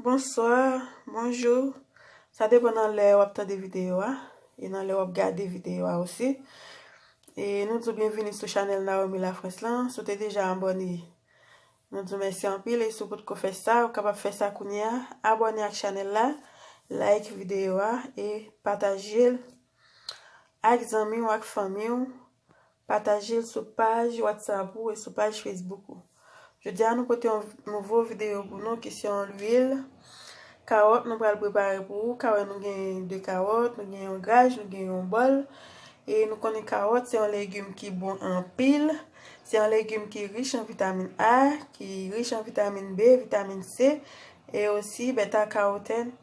Bonsoir, bonjour, sa depan nan lè wap tande video a, e nan lè wap gade video a osi. E nou di w byenvini sou chanèl Naomi La France lan, si w te deja abòne nou di w mèsi anpil e si w potko fè sa ou kapab fè sa kounye a, abòne ak chanèl la, like video a e pataje l ak zanmi w ak fanmi w Pataje l sou paj WhatsApp ou e sou paj Facebook ou. Jodi a nou pote yon nouvo videyo pou nou ki se yon lwil kawòt nou pral prepare pou ou ka wè nou gen 2 kawòt, nou gen yon gaj, nou gen yon bòl e nou konnen kawòt se yon legim ki bon anpil se yon legim ki rich an vitamin A ki rich an vitamin B, vitamin C e osi beta karotèn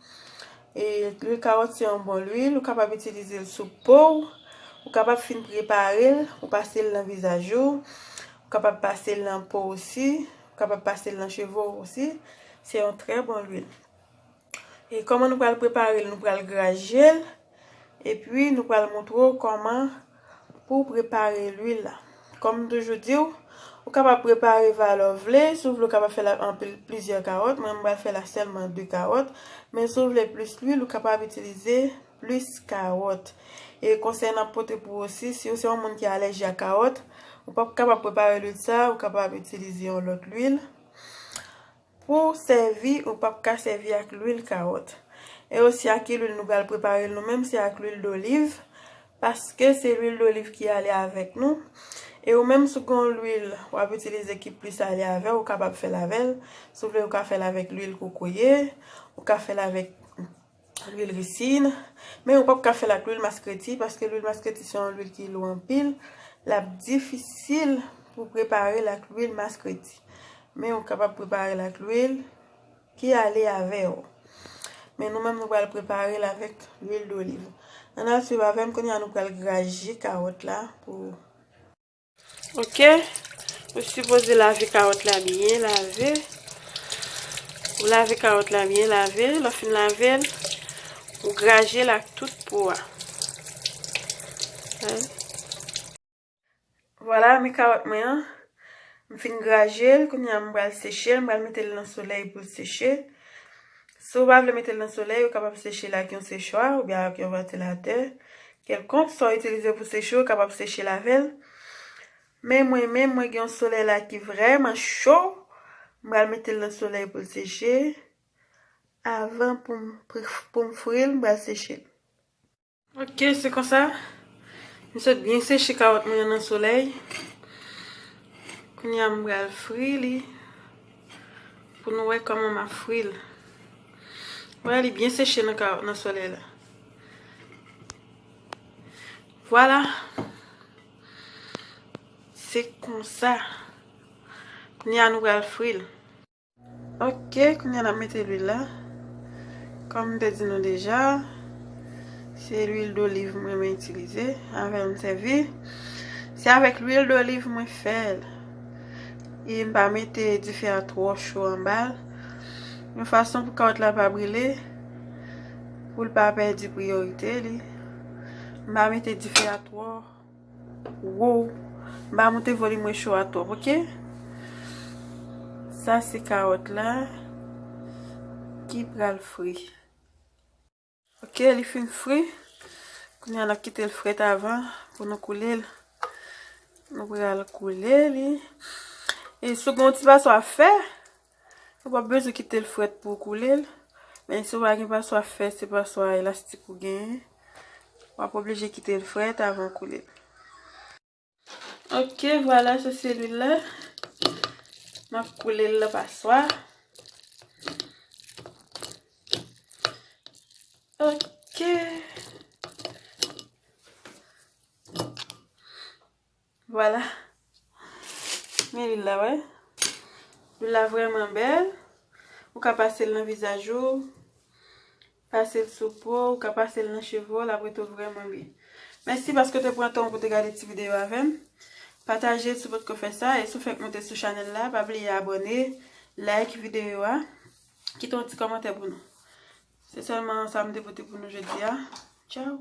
E lwil kawòt se yon bon lwil, ou kapab itilize l sou po w, ou kapab fin prepare l, ou pase l nan vizaj ou, ou kapab pase l nan po w osi, ou kapab pase l nan cheve w osi, se yon trè bon lwil. E kòman nou pral prepare l, nou pral graje l, epi nou pral montre w kòman Pou w prepare lwil la. Kòm m toujou di w, ou kapab prepare valè w vle, si w vle w kapab fè l ak anpil plizyè kawòt, mwen m pral fè l ak sèlman 2 kawòt, men si w vle plis lwil ou kapab itilize plis kawòt. E konsèy nan pote pou w osi, si w se yon moun ki alèji a kawòt, ou pap kapab prepare lwil sa, ou kapab itilize yon lòt lwil. Pouw sèvi ou pap ka sèvi ak lwil kawòt e osi ak ki lwil nou pral preparel nou menm se ak lwil doliv paske se lwil doliv ki ale avèk nou e ou menm si w gon lwil wap itilize ki plis ale avèw ou kapab fèl avèl si w vle ou ka fèl avèk lwil kokoye ou ka fèl avèk Lwil risin, men ou pap ka fèl ak lwil maskreti paske lwil maskreti se yon lwil ki lou anpil, lap difisil pou preparel ak lwil maskreti. Men ou kapab preparel ak lwil ki ale avèw. Men nou menm nou pral preparel avèk lwil doliv. Ann al swiv avèm, kounya nou pral graje kawòt la pou Ok, ou sipoze lave kawòt la byen lave. Ou lave kawòt la byen lave. Lò fin lave, ou graje l ak tout po a. Vwala, mi kawòt mwen an. M fin graje l. Kounye a m pral seche l. M pral mete l nan solèy pou l seche. Si ou pa vle mete l nan solèy, ou kapab seche l ak yon sechwa oubyen ak yon vantilatè. Kèlkonk sa w itilize pou seche ou kapab seche l avè l. Men mwen menm mwen gen yon solèy la ki vrèman cho, m pral mete l nan solèy pou l seche avan pou m pou m fri l m pral seche l. Ok se konsa m sot byen seche kawòt mwen yo nan solèy. Kounye a m pral fri li pou nou wè kòman m ap fri l. Wè li byen seche nan solèy la. Vwala Se konsa Kounye a nou pral fri l Ok Kounye a n ap mete lwil la Kòm m te di nou deja Se lwil doliv m renmen itilize Avè l m sèvi Se avèk lwil doliv mwen fè l E m pa mete dife a twò cho anba l Yon fason pou kawòt la pa brile Pou l pa pèdi priyorite li. M pa mete dife a twò wo. M pa moute volim recho a twòp ok. Sa se kawòt la ki pral fri. Ok li fin fri. Kounye a n ap kite l frèt avan pou nou koule l. Nou pral koule li. E sou gen yon ti paswa fè. Ou pap bezwen kite l frèt pou w koule l, men si w pa gen paswa fè, se paswa elastik ou genyen, w ap oblije kite l frèt avan w koule l. Ok, vwala se selil la. M ap koule l nan paswa. Ok. Vwala. Men lwil la wè. Lwil la vrèman bèl. Ou ka pase l nan vizaj ou. Pase l sou po. Ou ka pase l nan cheve w. L ap rete w vrèman byen. Mèsi paske w te pran tan w pou w te gade ti videyo avè m. Pataje l si w pa t ko fè sa. E si w fèk monte sou chanèl la, pa bliye abòne, like videyo a. Kite yon ti kòmantè pou nou. Se sèlman sa m te pote pou nou jodi a. Tchaw!